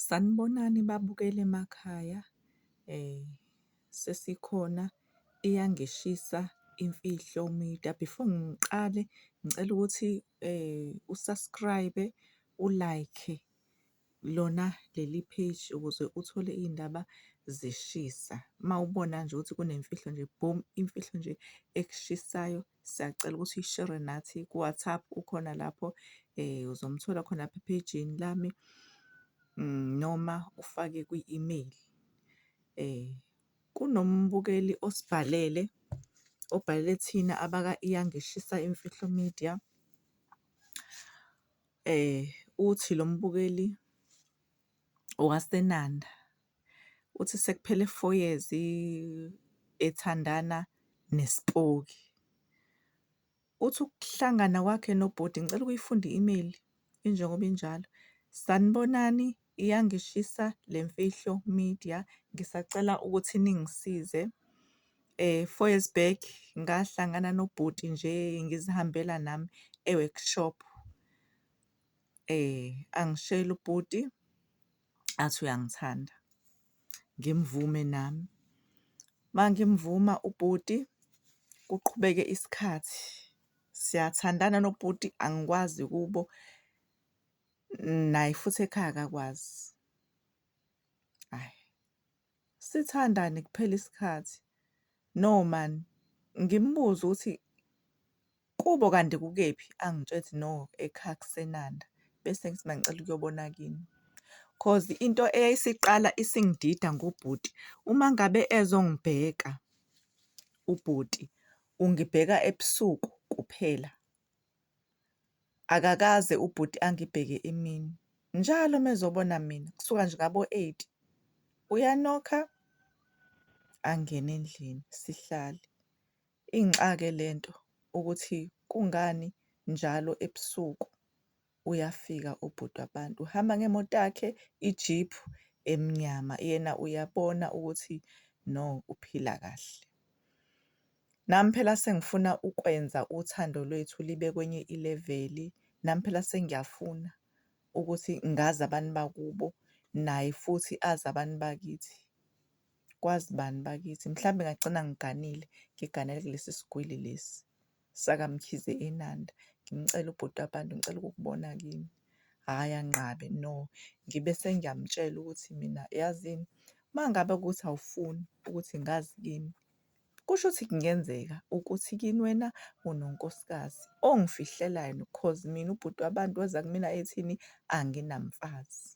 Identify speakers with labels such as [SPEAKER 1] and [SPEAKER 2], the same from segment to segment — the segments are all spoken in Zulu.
[SPEAKER 1] Sanibonani babukeli emakhaya sesikhona iyangishisa imfihlo media. Before ngiqale ngicela ukuthi u-subscribe-e, u-like-e lona leli page ukuze uthole iy'ndaba zishisa. Uma ubona nje ukuthi kunemfihlo nje boom imfihlo nje ekushisayo Siyacela ukuthi uyishere nathi ku-WhatsApp ukhona lapho um uzomthola khona lapha ephejini lami mm, noma ufake kwi-email. Um kunombukeli osibhalele obhalele thina abaka-Iyangishisa Imfihlo Media. Um uthi lo mbukeli waseNanda uthi sekuphele four years ethandana nesipoki. Uthi ukuhlangana kwakhe nobhuti ngicela ukuyifunda i-email injengoba injalo. Sanibonani, iyangishisa le mfihlo media ngisacela ukuthi ningisize. Eh four years back ngahlangana nobhuti nje ngizihambela nami e-workshop. Angishele ubhuti athi uyangithanda, ngimvume nami. Uma ngimvuma ubhuti kuqhubeke isikhathi, siyathandana nobhuti angikwazi kubo, naye futhi ekhaya akakwazi. Hhayi, Sithandane kuphele isikhathi. No man ngimbuze ukuthi kubo kanti kukephi angitshela ukuthi no ekhaya kusenanda bese ngithi mangicela ukuyobona kini cause into eyayisiqala isingidida ngobhuti uma ngabe ezongibheka ubhuti ungibheka ebusuku kuphela Akakaze ubhuti angibheke imini, njalo uma ezobona mina kusuka nje ngabo-eight uyanokha angene endlini sihlale. Inxa-ke le nto ukuthi kungani njalo ebusuku. uyafika ubhuti wabantu uhamba ngemoto yakhe ijiphu emnyama yena uyabona ukuthi no uphila kahle nami phela sengifuna ukwenza uthando lwethu libe kwenye ileveli nami phela sengiyafuna ukuthi ngazi abantu bakubo naye futhi azi abantu bakithi kwazi bani bakithi mhlawumbe ngagcina ngiganile ngiganele kulesi sigwili lesi sakaMkhize eNanda ngimcela ubhuti wabantu ngicela ukukubona kini hhayi anqabe no ngibe sengiyamtshela ukuthi mina yazini uma ngabe ukuthi awufuni ukuthi ngazi kini kusho ukuthi kungenzeka ukuthi kini wena unonkosikazi ongifihlelayo cause mina ubhuti wabantu weza kumina ethini anginamfazi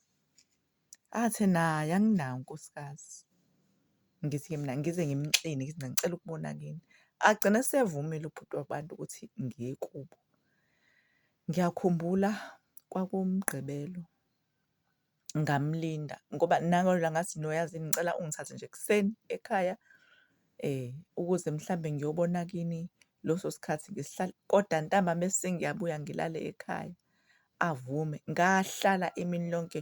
[SPEAKER 1] Athe naye anginawo unkosikazi. Ngithi-ke mina ngize ngimxine ngithi mina ngicela ukubona kini. Agcine esevumile ubhuti wabantu ukuthi ngiye kubo. Ngiyakhumbula kwakuwuMgqibelo ngamlinda ngoba nangalona ngathi no yazi yini ngicela ungithathe nje ekuseni ekhaya ukuze mhlambe ngiyobona kini loso sikhathi kodwa ntambama esengiyabuya ngilale ekhaya. avume ngahlala imini lonke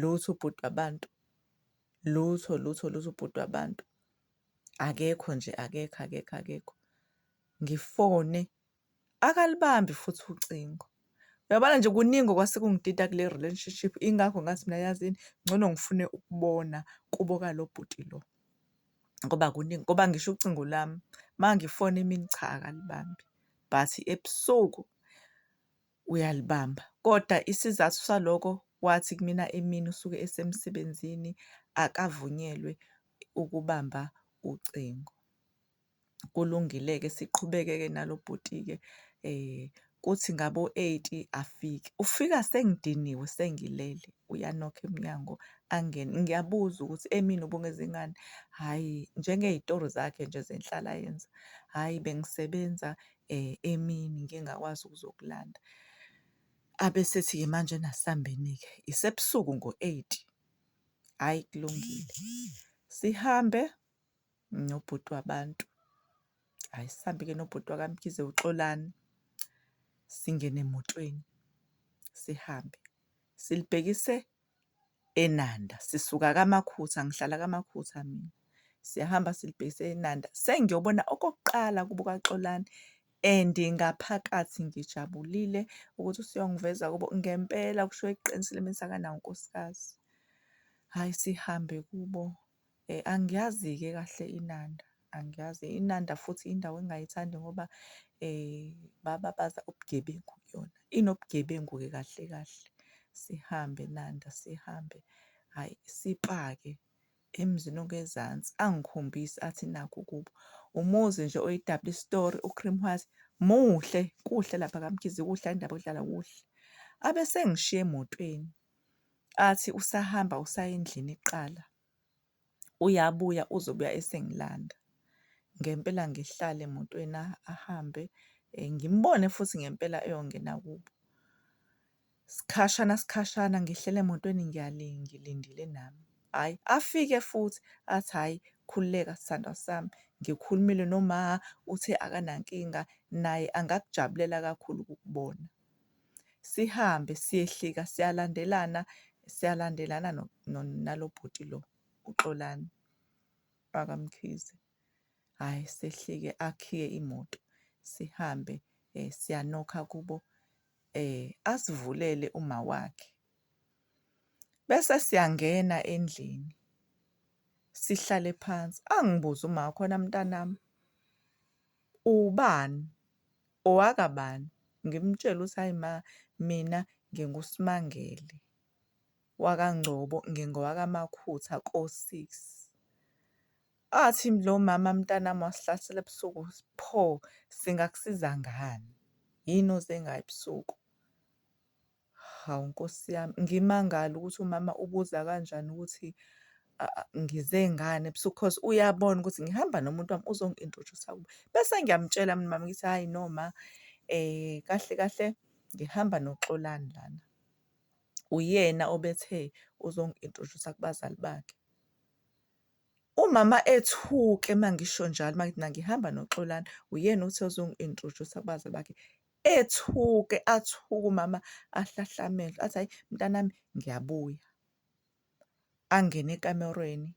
[SPEAKER 1] lutho ubhuti wabantu lutho lutho lutho ubhuti wabantu akekho nje akekho akekho akekho ngifone akalibambi futhi ucingo uyabona nje kuningi okwase kungitita kule relationship ingakho ngathi mina yazini ngcono ngifune ukubona kubo kalo bhuti lo ngoba kuningi ngoba ngisho ucingo lami mangifona imini cha akalibambi but ebusuku uyalibamba. Kodwa isizathu saloko wathi kumina emini usuke esemsebenzini akavunyelwe ukubamba ucingo. Kulungile-ke siqhubeke-ke nalo bhuti-ke eh kuthi ngabo 8 afike. Ufika sengidiniwe sengilele uyanokha emnyango angene. Ngiyabuza ukuthi emini ubungeze ngani? Hhayi njengey'tori zakhe nje zenhlalayenza. Hhayi bengisebenza emini ngike ngakwazi ukuzokulanda. Abe esethi-ke manje ena asihambeni-ke isebusuku ngo-eight. Hhayi kulungile, sihambe nobhuti wabantu. Hhayi sihambe-ke nobhuti wakaMkhize uXolani, singene emotweni sihambe. Silibhekise eNanda sisuka kaMakhutha ngihlala kaMakhutha mina siyahamba silibhekise eNanda sengiyobona okokuqala kubo kaXolani and ngaphakathi ngijabulile ukuthi usuyongiveza kubo ngempela kusho eqinisile mina sakanawo unkosikazi hhayi sihambe kubo. Eh, angiyazi-ke kahle iNanda, angiyazi. INanda futhi indawo engingayithandi ngoba eh, bababaza ubugebengu kuyona. Inobugebengu-ke kahle kahle. Sihambe Nanda, sihambe. Hhayi, sipake emzini ongezansi, angikhombise athi nakhu kubo. Umuzi nje oyi-double story, u-cream white, muhle, kuhle lapha kaMkhize, kuhle, hhayi indaba yokudlala, kuhle. Abe sengishiya emotweni. athi usahamba usaya endlini kuqala uyabuya uzobuya esengilanda ngempela ngihlale emotweni ahambe eh, ngimbone futhi ngempela eyongena kubo sikhashana sikhashana ngihlele emotweni ngiyalingi ngilindile nami hhayi afike futhi athi hhayi khululeka sithandwa sami ngikhulumile noma uthe akanankinga naye angakujabulela kakhulu ukukubona sihambe siyehlika siyalandelana siyalandelana nalobhuti lo uxolani bakamkhize hhayi sehlike akhiye imoto sihambe um siyanokha kubo um asivulele uma wakhe bese siyangena endlini sihlale phansi angibuze uma khona mntanami Uwubani? Owakabani? Ngimtshele ukuthi hhayi ma mina nginguSmangele wakaNgcobo, ngingowakamakhutha kosisi. Athi lo mama mntanami wasihlasela ebusuku, pho singakusiza ngani? Yini oze ngayo ebusuku? Hawu Nkosi yami, ngimangale ukuthi umama ubuza kanjani ukuthi ngize ngani ebusuku cause uyabona ukuthi ngihamba nomuntu wami uzongi-introduce-a kubo. Bese ngiyamtshela mina umama ngithi, hhayi no ma kahle kahle ngihamba noXolani lana. Uyena obethe uzongi-introduce-a kubazali bakhe. Umama ethuke uma ngisho njalo uma ngithi mina ngihamba noXolani, uyena othe uzongi-introduce-a kubazali bakhe. ethuke athuke umama ahlahla amehlo athi hayi mntanami ngiyabuya angene ekamerweni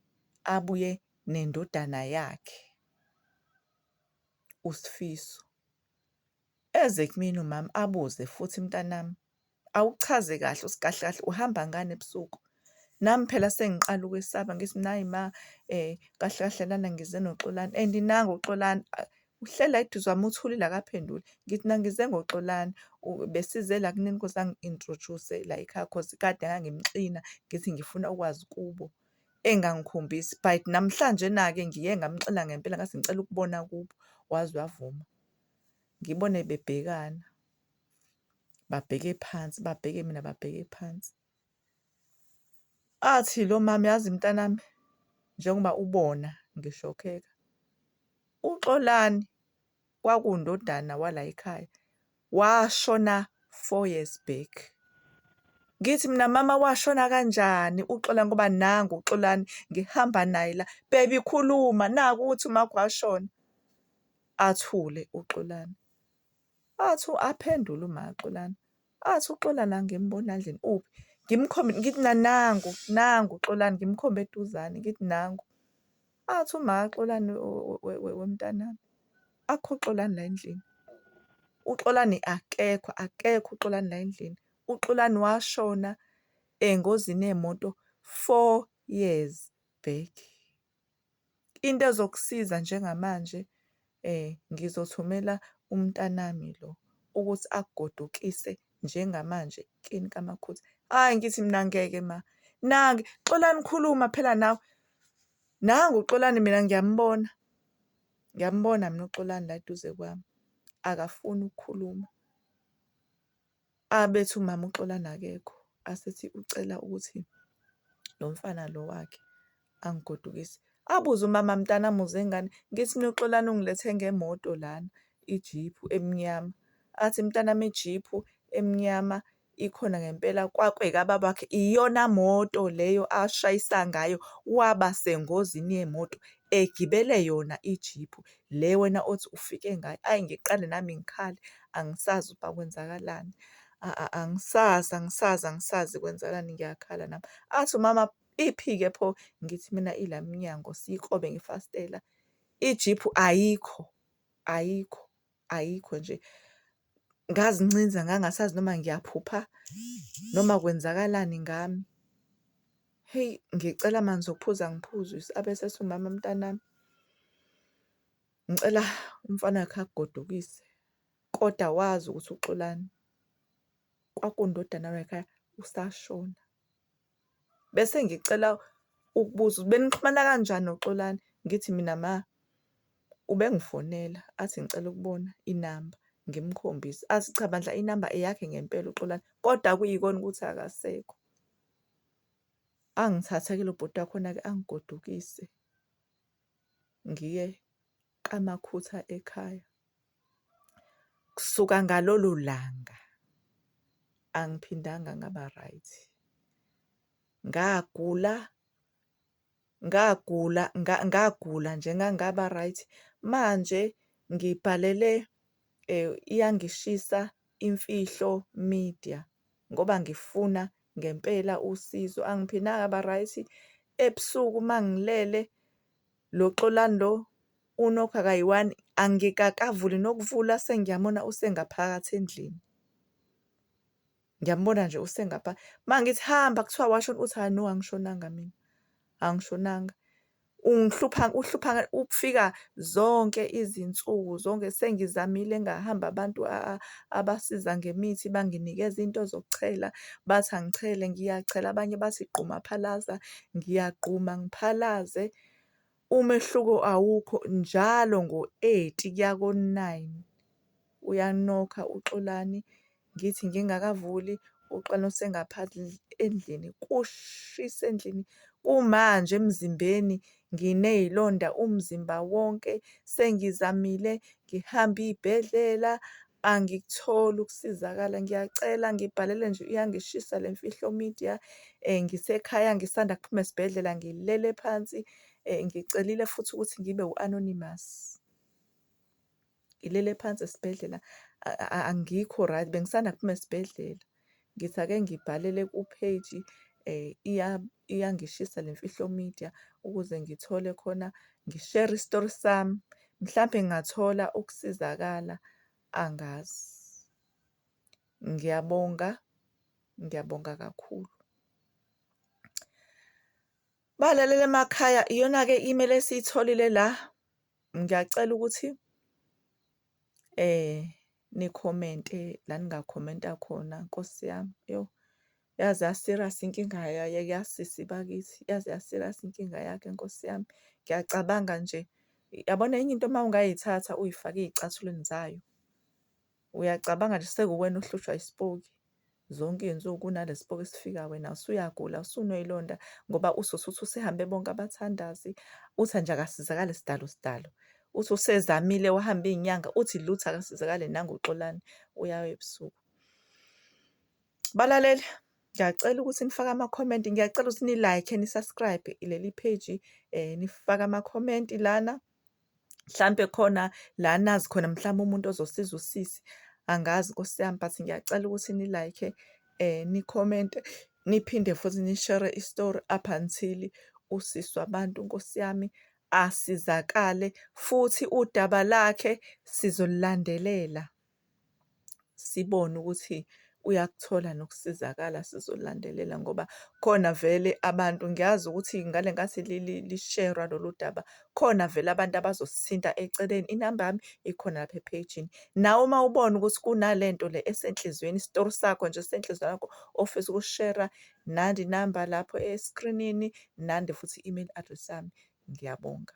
[SPEAKER 1] abuye nendodana yakhe uSifiso eze kumina umama abuze futhi mntanami Awuchaze kahle usikahle kahle uhamba ngani ebusuku? Nami phela sengiqala ukwesaba ngithi nayi ma eh kahle kahle lana ngize noXolani and nangu uXolani uhlela eduze kwami uthulile akaphenduli ngithi nangize ngoXolani besize la kunini nkosi angi-introduce la ekhaya cause kade ngangimxina ngithi ngifuna ukwazi kubo engangikhombisi but namhlanje na-ke ngiye ngamxina ngempela ngathi ngicela ukubona kubo waze wavuma ngibone bebhekana babheke phansi babheke mina babheke phansi athi lo mama yazi mntanami njengoba ubona ngishokheka uxolani kwakundodana wala ekhaya washona four years back ngithi mina mama washona kanjani uxola ngoba nangu uxolani ngihamba naye la bebi khuluma naku ukuthi umakho washona athule uxolani Athi u-aphendula uMaXolani, athi uXolani angimboni endlini, uphi? Ngimkhombe, ngithi na nangu, nangu uXolani, ngimkhombe eduzane, ngithi nangu. Athi uMaXolani, wemntanami, akukho Xolani la endlini. UXolani akekho, akekho uXolani la endlini. UXolani washona engozini yemoto four years back. Into ezokusiza njengamanje ngizothumela umntanami lo ukuthi akugodukise njengamanje kini kamakhosi. Hhayi ngithi mina ngeke ma, nange Xolani khuluma phela nawe. Nangu uXolani mina ngiyambona, ngiyambona mina uXolani la eduze kwami, akafuni ukukhuluma. Ah bethi umama uXolani akekho asethi ucela ukuthi lo mfana lo wakhe angigodukise. Abuze umama mntana muze ngani ngithi mina uXolani ungilethenge ngemoto lana ijiphu emnyama athi mntana ijiphu emnyama ikhona ngempela kwakwe kababa wakhe iyona moto leyo ashayisa ngayo waba sengozini yemoto egibele yona ijiphu le wena othi ufike ngayo. Ayi ngiqale nami ngikhale angisazi ukuba kwenzakalani, angisazi, angisazi, angisazi kwenzakalani ngiyakhala nami. Athi umama iphi-ke pho? Ngithi mina ila mnyango siyikrobe ngefastela, ijiphu ayikho, ayikho. ayikho nje ngazincinza ngangasazi noma ngiyaphupha noma kwenzakalani ngami heyi ngicela amanzi okuphuza ngiphuzwise abese sumama mntanami ngicela umfana wakhe akugodukise kodwa wazi ukuthi uxolani kwakundodana wakhaya usashona Bese ngicela ukubuza ukuthi benixhumana kanjani noXolani? Ngithi mina ma ubengifonela athi ngicela ukubona inamba ngimkhombise athi cha bandla inamba eyakhe ngempela uXolani kodwa kuyikona ukuthi akasekho. Angithathe-ke lo bhuti wakhona-ke angigodukise ngiye kaMakhutha ekhaya. Kusuka ngalolo langa angiphindanga ngaba right. Ngagula ngagula ngagula nje ngangaba right manje ngibhalele eh, iyangishisa imfihlo media ngoba ngifuna ngempela usizo angiphindanga ngaba right ebusuku mangilele Lo Xolani lo unokha kayi-one angikakavuli nokuvula sengiyamona usengaphakathi endlini. Ngiyambona nje usengapha uma ngithi hamba kuthiwa washona uthi hhayi no angishonanga mina angishonanga. Ungihlupha uhlupha ukufika zonke izinsuku zonke sengizamile ngahamba abantu abasiza ngemithi banginikeza into zokuchela bathi angichele ngiyachela abanye bathi gquma phalaza Ngiyagquma ngiphalaze umehluko awukho njalo ngo-eight kuya ko-nine uyanokha uXolani ngithi ngingakavuli uXolani usengaphandle endlini kushisa endlini kumanje emzimbeni nginey'londa umzimba wonke sengizamile ngihamba iy'bhedlela Angikutholi ukusizakala, ngiyacela ngibhalele nje, iyangishisa le mfihlo media. Ngisekhaya ngisanda kuphuma esibhedlela ngilele phansi, ngicelile futhi ukuthi ngibe u-anonymous. Ngilele phansi esibhedlela angikho right, bengisanda kuphuma esibhedlela. ngithi ake ngibhalele ku-page iyangishisa le mfihlo media ukuze ngithole khona ngishere isitori sami mhlampe ngingathola ukusizakala angazi ngiyabonga ngiyabonga kakhulu balalele emakhaya iyona-ke imele esiyitholile la ngiyacela ukuthi Nikhomente la ningakhomenta khona nkosi yami yo yaze yaserious inkinga yasisi bakithi yaze yaserious inkinga yakhe nkosi yami ngiyacabanga nje yabona enye into uma ungayithatha uyifake ezicathulweni zayo uyacabanga nje sekuwena ohlushwa isipoki. zonke iy'nsuku kunalesipoki esifika wena usuyagula usunoyilonda ngoba uzosuthi usehambe bonke abathandazi uthi nje akasizakale sidalo sidalo uthi usezamile wahamba iy'nyanga uthi lutho akasizakale nangoxolani uyawa ebusuku balalele ngiyacela ukuthi nifake amakhomenti ngiyacela ukuthi ni-like ni-subscribe leli page um nifake amakhomenti lana mhlampe khona la nazi khona mhlawumbe umuntu ozosiza usisi angazi nkosi yami but ngiyacela ukuthi ni-like eh ni-comente niphinde futhi nishere istory up until usisi wabantu nkosi yami asizakale futhi udaba lakhe sizolilandelela sibone ukuthi uyakuthola nokusizakala sizolandelela ngoba khona vele abantu ngiyazi ukuthi ngale nkathi lisherwa lolu daba khona vele abantu abazosithinta eceleni inamba yami ikhona lapha ephejini nawe uma ubona ukuthi kunale nto le esenhliziyweni isitori sakho nje senhliziyweni yakho ofisa ukushera nandi inamba lapho eskrinini nandi futhi i-email address yami ngiyabonga